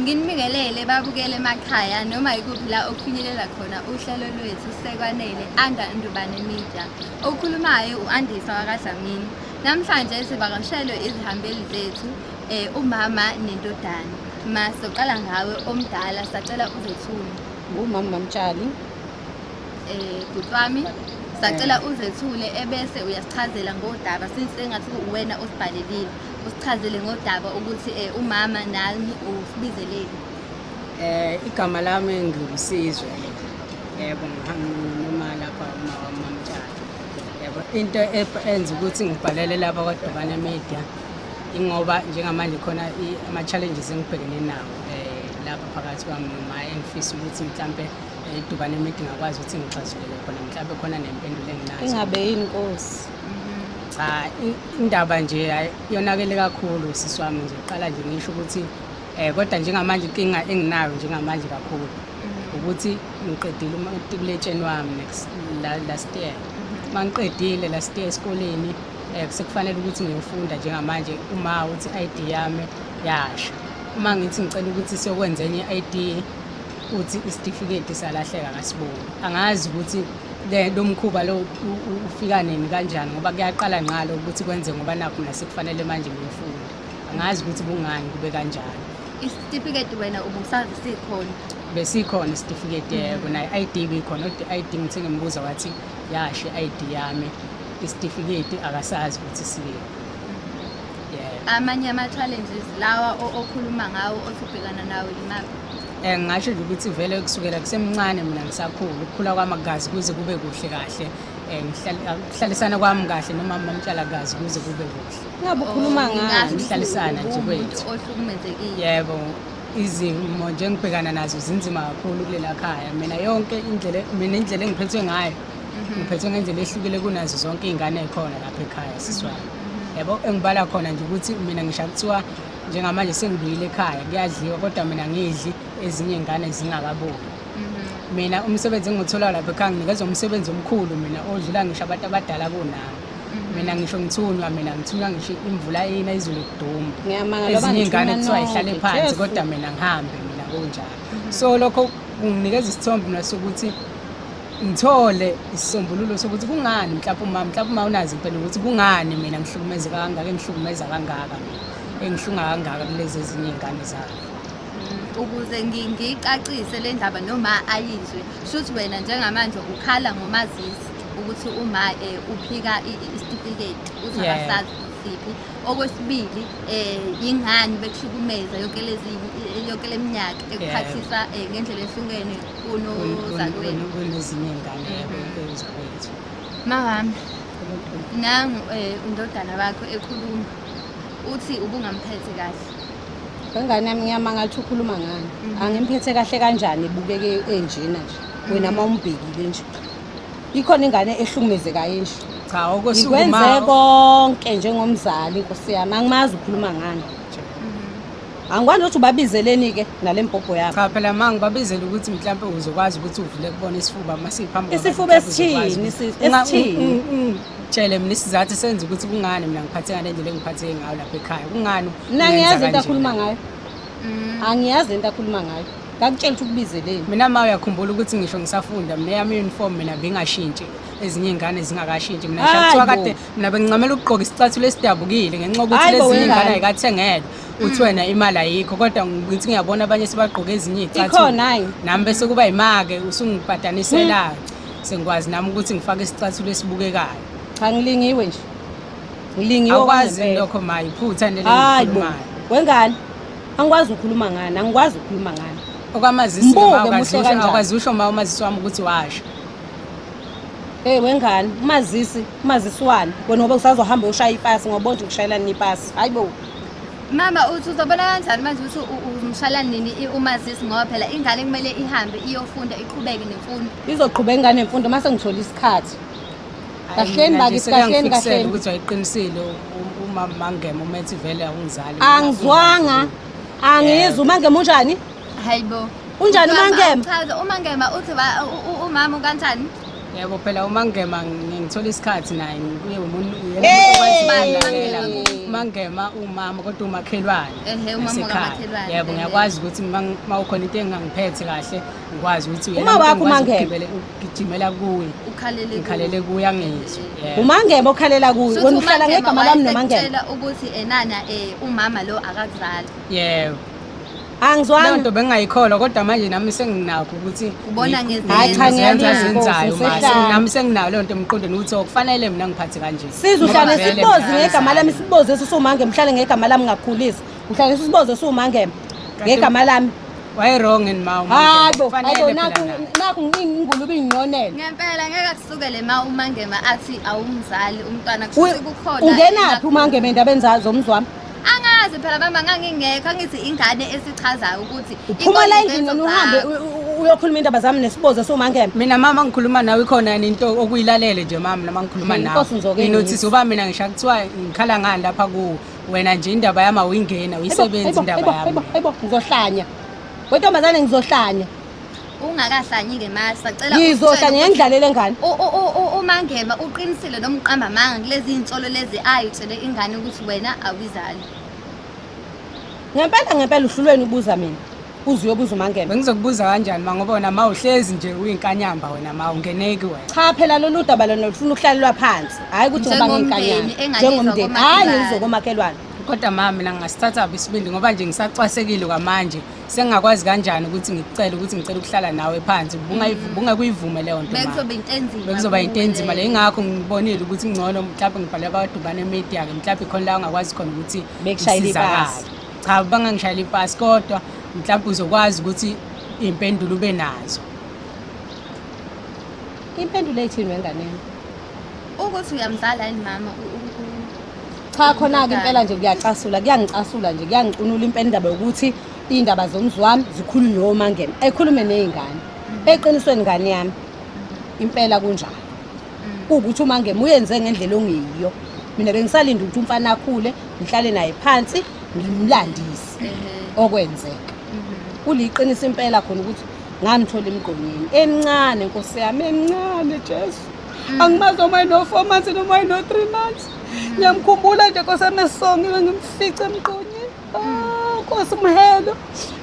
Nginibingelele babukele emakhaya noma yikuphi la okufinyelela khona uhlelo lwethu sekwanele under Ndubane Media. Okhulumayo u-Andisa wakaDlamini. Namhlanje sivakashelwe izihambeli zethu eh, umama nendodana. Ma soqala ngawe omdala sacela uzethule. ngumama bamtshali Eh bhuti wami sacela uzethule ebese uyasichazela ngodaba since engathi uwena osibhalelile. usichazele ngodaba ukuthi eh, umama nami usibizeleni eh igama lami ngilusizwe yebo noma lapha uma wamamtshana yebo into enza ukuthi ngibhalele laba kwadobane media ingoba njengamanje khona ama-challenges engibhekene nawo eh, lapha phakathi kwami noma engifisa ukuthi mhlampe idubane eh, media ngakwazi ukuthi ngixazulele khona mhlampe khona nempendulo enginazo ingabe yini nkosi cha indaba nje yonakele kakhulu sisi wami nje qala nje ngisho ukuthi um kodwa njengamanje inkinga enginayo njengamanje kakhulu mm. ukuthi ngiqedile umatikuletsheni wami next last year uma mm-hmm. ngiqedile last year esikoleni um sekufanele ukuthi ngiyofunda njengamanje uma uthi i-i d yami yasho uma ngithi ngicela ukuthi siyokwenza enye i-i d uthi isitifiketi salahleka kasiboni angazi ukuthi lo mkhuba lo ufika nini kanjani ngoba kuyaqala ngqalo ukuthi kwenze ngoba nakho nasekufanele manje ngimfunde angazi ukuthi kungani kube kanjani isitifiketi wena ubusazi sikhona besikhona isitifiketi yebo mm. naye ID bikhona kodwa ID ngithe ngimbuza wathi yashe ID yami isitifiketi akasazi ukuthi siyini amanye ama-challenges lawa okhuluma ngawo othi ubhekana nawo imaphi um eh, ngingasho nje ukuthi vele kusukela kusemncane mina ngisakhulu ukukhula kwamagazi kuze kube kuhle kahle um ukuhlalisana kwami kahle noma mamtshalakazi kuze kube kuhle ngabe ukhuluma oh, ngayo ukuhlalisana nje kwethu ohlukumezekile yebo izimo nje engibhekana nazo zinzima kakhulu kulela khaya mina yonke indlela mina indlela engiphethwe ngayo mhm. ngiphethwe ngendlela ehlukile kunazo zonke iy'ngane ey'khona lapha ekhaya siswayo mhm. yabo engibala khona nje ukuthi mina ngisha kuthiwa njengamanje sengibuyile ekhaya kuyadliwa kodwa mina ngidli ezinye iy'ngane zingakabuki mhm. mina umsebenzi engiwutholayo lapha ekhaya nginikezwa umsebenzi omkhulu mina odlula ngisho abantu abadala kunami mina ngisho ngithunywa mina ngithunywa ngisho imvula ina izulu kuduma ezinye iy'ngane kuthiwa ihlale phansi kodwa mina ngihambe mina kunjalo so lokho kunginikeza isithombe mina sokuthi ngithole isisombululo sokuthi kungani mhlawumbe uma mhlawumbe uma unazi impela ukuthi kungani mina ngihlukumeze kangaka engihlukumeza kangaka engihlunga kangaka kulezi ezinye iy'ngane zakhe mm, ukuze ngiyicacise le ndaba noma ayizwe shuthi wena njengamanje ukhala ngomazisi ukuthi uma eh, uphika isitifiketi uzabasazi siphi okwesibili eh ingani bekuhlukumeza yonke lezi yonke leminyaka ekuphathisa eh, ngendlela ehlukene kunozakwenu kunezinye ngane kunozakwethu mawami nangu eh, undodana bakho ekhuluma uthi ubungamphethe kahle ngengane yami ngiyamanga ukuthi ukhuluma ngani mhm. angimphethe kahle kanjani ebukeke enjena nje wena uma mhm. umbhekile nje ikhona ingane ehlukumezekayo enje cha okwesukumaikwenze konke njengomzali nkosi yami angimazi ukhuluma ngani Angikwazi ukuthi ubabizeleni-ke nale mpopho yakho. Cha phela ma ngibabizela ukuthi mhlawumpe uzokwazi ukuthi uvule kubona isifuba uma siphambi Isifuba esithini? sis- Esithini? Tshele mina isizathu senza ukuthi kungani mina ngiphathe ngale ndlela engiphatheke ngayo lapha ekhaya. Kungani? Mina ungenza ngiyazi into kanje? akhuluma ngayo. Angiyazi into akhuluma ngayo. Ngakutshela ukuthi ukubizeleni. Mina ma uyakhumbula ukuthi ngisho ngisafunda mina yami uniform mina bengashintshi ezinye ingane zingakashintshi mina Hayi ngishathiwa bo. kade mina bengincamela ukugqoka isicathulo esidabukile ngenxa yokuthi Hayi bo, lezi wengane. ingane ayikathengelwe uthi wena imali ayikho kodwa ngithi ngiyabona abanye sebagqoke ezinye iy'cathulo nami bese kuba yimake usungibhadaniselayo hmm. sengikwazi nami ukuthi ngifake isicathulo esibukekayo cha ngilingiwe nje ngilingiwe kwazi lokho ma yiphutha nelekhulumayo wengane angikwazi ukukhuluma ngani angikwazi ukukhuluma ngani okwamazisi akwazi usho ma umazisi wami ukuthi washo Hey wengane, umazisi, umazisi wani? Wena ngoba usazohamba ushaya ipasi ngoba nje ukushayelana ipasi. Hayibo. Mama uthi uzobona kanjani manje ukuthi u- u- umshala nini i- umazisi ngoba phela ingane kumele ihambe iyofunda iqhubeke nemfundo. izoqhuba ingane mfundo mase ngithola isikhathi Kahleni bakithi, kahleni, kahleni. ukuthi wayiqinisile u- umama mangema uma ethi vele awungizali angizwanga angizwa umangema unjani Hayibo. Unjani Mama, uMangema? awuchaze, uMangema uthi ba- u- u- umama kanjani? yebo phela umangema ngithola isikhathi naye kuye umuntu umangema umama kodwa umakhelwane yebo ngiyakwazi ukuthi uma ukhona into engangiphethe kahle ngikwazi ukuthi uyagijimela kuye ngikhalele kuye angizwe umangema okhalela kuye wena uhlala ngegama lami nomangema ukuthi enana um eh, umama lo akakuzali yebo angizwanga leyo nto bengingayikholwa kodwa manje nami senginakho ukuthi ubona hayi cha ngiyenzayo nami senginayo leyo nto emqondweni ukuthi okufanele oh, mina ngiphathe kanje siza uhlale sibozi ngegama lami sibozi esisumange mhlale ngegama lami ngakhulisa uhlale sibozi esiwumange ngegama lami waye wrong and ma hayi bo hayi naku naku ngingulubi nginonela ngempela ngeke akusukele ma umangema athi awumzali umntwana kusukukhona ungenaphi umangema endabeni zazo umzwami angazi phela mama ngangingekho angithi ingane esichazayo ukuthi uphuma la endlini noma uhambe uyokhuluma indaba zami nesibozo somangema mina mama ngikhuluma nawe ikhona yini into okuyilalele nje mama noma ngikhuluma nawe nginothisa uba mina ngisha kuthiwa ngikhala ngani lapha kuwo wena nje indaba yami awuyingena uyisebenzi indaba yami ayibo ngizohlanya wentombazane ngizohlanya ungakahlanyi ngemali sacela ngizohla ngiyendlalele ngane umangema uqinisile noma uqamba amanga kulezi nsolo lezi ayitshele ingane ukuthi wena awizali ngempela ngempela uhlulweni ubuza mina uze uyobuza umangema bengizokubuza kanjani ma ngoba wena ma uhlezi nje uyinkanyamba wena ma ungeneki wena cha phela lolu daba lona lufuna ukuhlalelwa phansi hhayi ukuthi ngoba ngiyinkanyamba njengomndeni hhayi ngizokomakhelwane kodwa ma mina ngingasithathaphi isibindi ngoba nje ngisacwasekile kwamanje sengingakwazi kanjani ukuthi ngikucele ukuthi ngicela ukuhlala nawe phansi bungakuyivumi leyo nto bekuzoba yinto enzima le ingakho ngibonile ukuthi ngcono mhlawumbe ngibhale abadubane emedia-ke mhlawumbe khona la ungakwazi khona ukuthi ngisizakale cha bangangishayela ipasi kodwa mhlawumbe uzokwazi ukuthi iy'mpendulo ube nazo impendulo ethini wenganeni ukuthi uyamzala yini mama cha khona-ke impela nje kuyacasula kuyangicasula nje kuyangicunula impela indaba yokuthi iy'ndaba zomzi wami zikhulunywe omangena ekhulume ney'ngane eqinisweni ngane yami impela kunjalo kuwukuthi umangema uyenze ngendlela ongeyiyo mina bengisalinde ukuthi umfana akhule ngihlale naye phansi ngimlandise okwenzeka kuliqiniso impela khona ukuthi ngamthola emgqonyeni emncane nkosi yami emncane jesu Mm. Angimazi noma ino-four months noma ino-three months. Mm. Ngiyamkhumbula nje Nkosi yami esongiwe ngimfice emqonyeni. Mm. Ah, Nkosi Mhelo.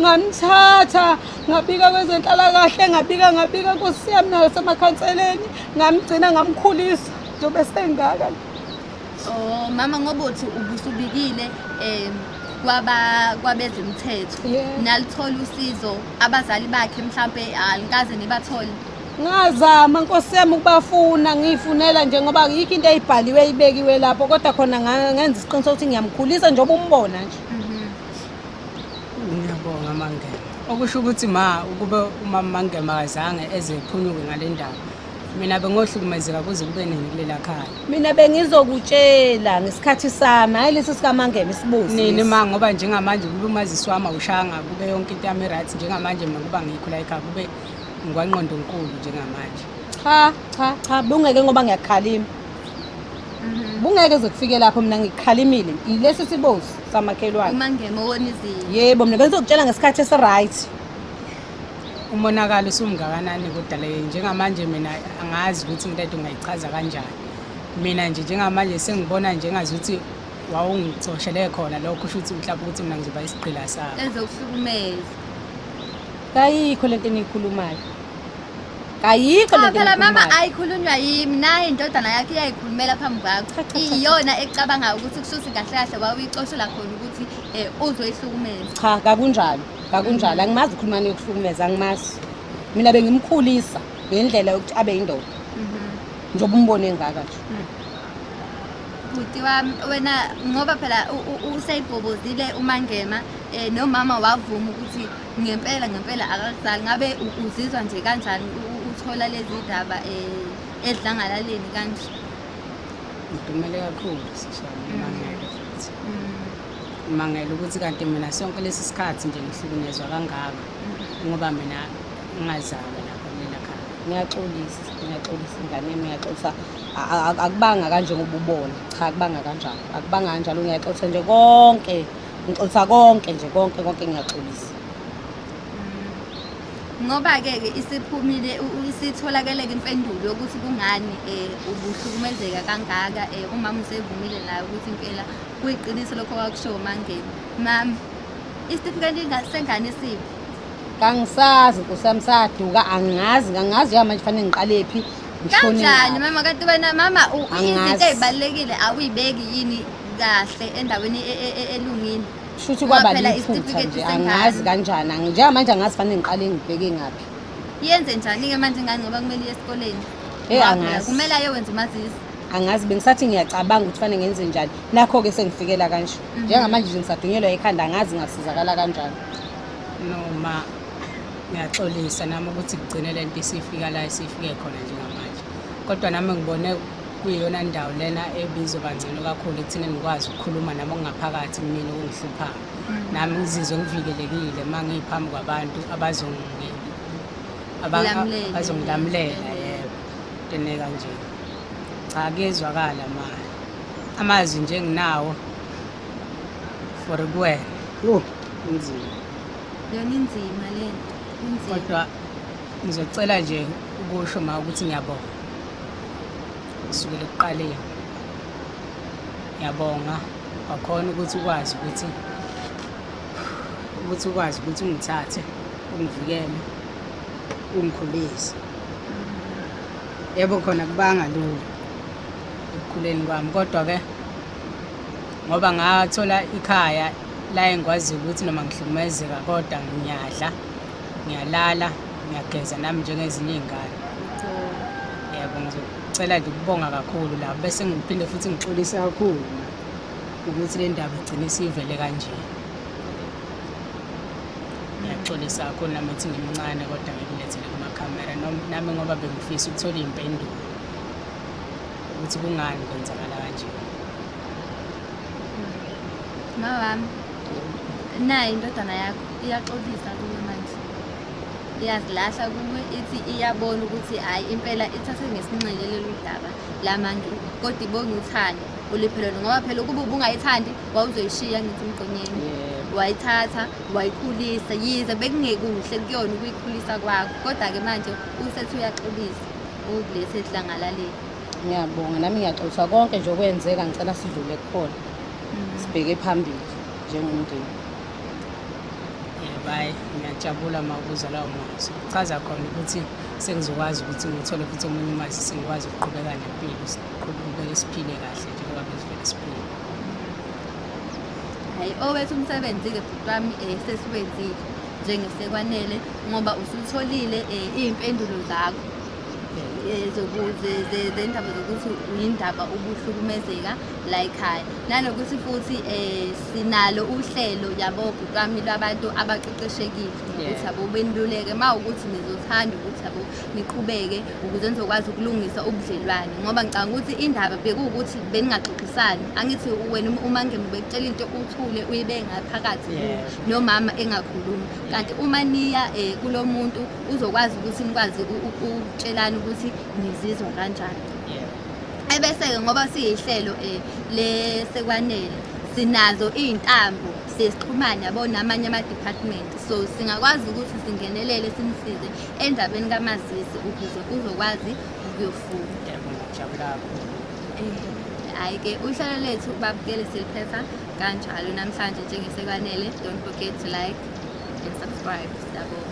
Ngamthatha ngabika kwezenhlalakahle ngabika ngabika Nkosi yami nayo semakhanseleni ngamgcina ngamkhulisa njengoba esengaka. Oh mama ngoba uthi ubusubikile eh kwaba kwabezemthetho nalithola usizo abazali bakhe mhlambe alikaze nibathole ngazama nkosi yami ukubafuna ngiyifunela nje ngoba yikho into eyibhaliwe ibekiwe lapho kodwa khona ngenza isiqiniseko ukuthi ngiyamkhulisa njengoba umbona nje ngiyabonga mangema okusho ukuthi ma ukube umama mangema akazange eze ephunyuke ngale ndaba mina bengohlukumezeka kuze kube nini kulela khaya mina bengizokutshela ngesikhathi sami hhayi lesi sikamangema isibuzi nini ma ngoba njengamanje kube umazisi wami awushanga kube yonke into yami right njengamanje mina kuba ngikho la ekhaya kube ngwanqondonkulu njengamanje cha cha cha bungeke ngoba ngiyakhalima mhm. bungeke zokufike lapho mina ngikhalimile yilesi sibozi samakhelwane uma ngema wona izinto yebo mina bengizokutshela ngesikhathi esiright umonakalo usumngakanani kodale njengamanje mina angazi ukuthi into ethi ungayichaza kanjani mina nje njengamanje sengibona njengazuthi wawungixoshele khona lokho usho ukuthi mhlawumbe ukuthi mina ngizoba isigqila sakho ezokuhlukumeza kayikho lento eniyikhulumayo kayikho lento phela mama eniyikhulumayo. ayikhulunywa yimi naye indodana yakhe iyayikhulumela phambi kwakho Cha, cha, cha, cha. iyona ecabangayo ukuthi kusho ukuthi kahle kahle wawuyixoshela khona ukuthi um uzoyihlukumeza cha kakunjalo kakunjalo angimazi ukhuluma niyokuhlukumeza angimazi mina bengimkhulisa ngendlela yokuthi abe yindoda njengoba umbone engaka nje bhuti wami wena ngoba phela useyibhobozile umangema um nomama wavuma ukuthi ngempela ngempela akakuzali ngabe uzizwa nje kanjani uthola lezi ndaba um eh, edlangalaleni kanje ngidumele kakhulu sishana umangele futhi umangele mm. ukuthi kanti mina sonke lesi sikhathi nje ngihlukunyezwa kangaka mm. ngoba mina ngingazalwa lapho mina khaya ngiyaxolisa ngiyaxolisa ingane yami ngiyaxolisa Akubanga kanje ngoba ubona cha akubanga kanjalo akubanga kanjalo ngiyaxolisa nje konke ngixolisa konke nje konke konke ngiyaxolisa mm. ngoba-ke ke isiphumile isitholakele-ke impendulo yokuthi kungani um ubuhlukumezeka kangaka um umama usevumile nayo ukuthi impela kuyiqiniso lokho kwakushowo mangeni mama isitifiketi sengane siphi kangisazi nkosi yami saduka angazi ngangazi yamanje fanele ngiqalephi kanjani mama kanti wena mama izinto ezibalekile awuyibeki yini kahle endaweni e, e, e, elungile shuthi kwaba liphutha nje angazi kanjani njengamanje angazi fanele ngiqale ngibheke ngaphi yenze njani ke manje ngani ngoba kumele iye esikoleni hey angazi kumele aye wenza umazisi angazi bengisathi ngiyacabanga ukuthi fanele ngenze njani nakho ke sengifikela kanje mhm. njengamanje nje ngisadunyelwa ekhanda angazi ngasizakala kanjani no ma Ngiyaxolisa nami ukuthi kugcine le nto isifika la isifike khona njengamanje, kodwa nami ngibone kuyiyona ndawo lena ebizoba ngcono kakhulu ekutheni ngikwazi ukukhuluma nami okungaphakathi kumina okungihluphayo. Mm. Nami ngizizwe ngivikelekile uma ngiyiphambi kwabantu abazongilamulela yebo tene kanje. Cha kuyezwakala ma amazwi nje enginawo for kuwena. Yho kunzima. Yona inzima le nto, inzima. kodwa ngizocela nje ukusho ma ukuthi ngiyabonga kusukela ekuqaleni ngiyabonga wakhona ukuthi ukwazi ukuthi ukuthi ukwazi ukuthi ungithathe ungivikele ungikhulise yebo khona kubanga lula ekukhuleni kwami kodwa-ke ngoba ngathola ikhaya la engikwaziyo ukuthi noma ngihlukumezeka kodwa ngiyadla ngiyalala ngiyageza nami njengezinye iy'ngane yebo ngizocela nje ukubonga kakhulu lapho bese ngiphinde futhi ngixolise kakhulu ukuthi le ndaba igcine siyivele kanje ngiyaxolisa kakhulu nami ethi ngimncane kodwa ngikulethele kumakhamera nami ngoba bengifisa ukuthola iy'mpendulo ukuthi kungani kwenzakala kanje mawami naye indodana yakho iyaxolisa kuwe manje iyazilahla kuwe ithi iyabona ukuthi hhayi impela ithathe ngesinxele lolu daba lamantu kodwa ibonga uthando oliphelele ngoba phela ukuba ubungayithandi wawuzoyishiya ngithi umgqonyeni wayithatha wayikhulisa yize bekungekuhle kuyona ukuyikhulisa kwakho kodwa-ke manje usethi uyaxolisa Ungilethe edlangalaleni. Ngiyabonga nami ngiyaxoliswa konke nje okwenzeka ngicela sidlule kukhona. Mm. Sibheke phambili njengomndeni. Bye. Ngiyajabula uma ukuzwa lawo mazwi. Kuchaza khona ukuthi sengizokwazi ukuthi ngithole futhi omunye umazi sengikwazi ukuqhubeka nempilo. Siqhubeke siphile kahle njengoba bezivele siphile. Hayi owethu umsebenzi-ke bhuti wami um sesiwenzile. njengesekwanele ngoba usutholile eh, iy'mpendulo zakho eh, zendaba zokuthi uyindaba ubuhlukumezeka la ekhaya nanokuthi futhi um sinalo uhlelo yabo kwami lwabantu abaqeqeshekile ukuthi abo beniluleke ma ukuthi nizothanda ukuthi abo niqhubeke ukuze nizokwazi ukulungisa ubudlelwane ngoba ngicanga ukuthi indaba bekuwukuthi beningaxoxisani angithi wena uma ngemubekutshela into uthule uyibe ngaphakathi nomama engakhulumi kanti uma niya um kulo muntu uzokwazi ukuthi nikwazi ukutshelana ukuthi nizizwa kanjani ebese-ke ngoba siyihlelo um lesekwanele sinazo iy'ntambo sesixhumane yabo namanye ama-department so singakwazi ukuthi singenelele simsize endabeni kamazisi ukuze uzokwazi ukuyofunda eh, hhayi-ke uhlelo lethu babukele siliphetha kanjalo namhlanje njengesekwanele don't forget to like and subscribe siyabonga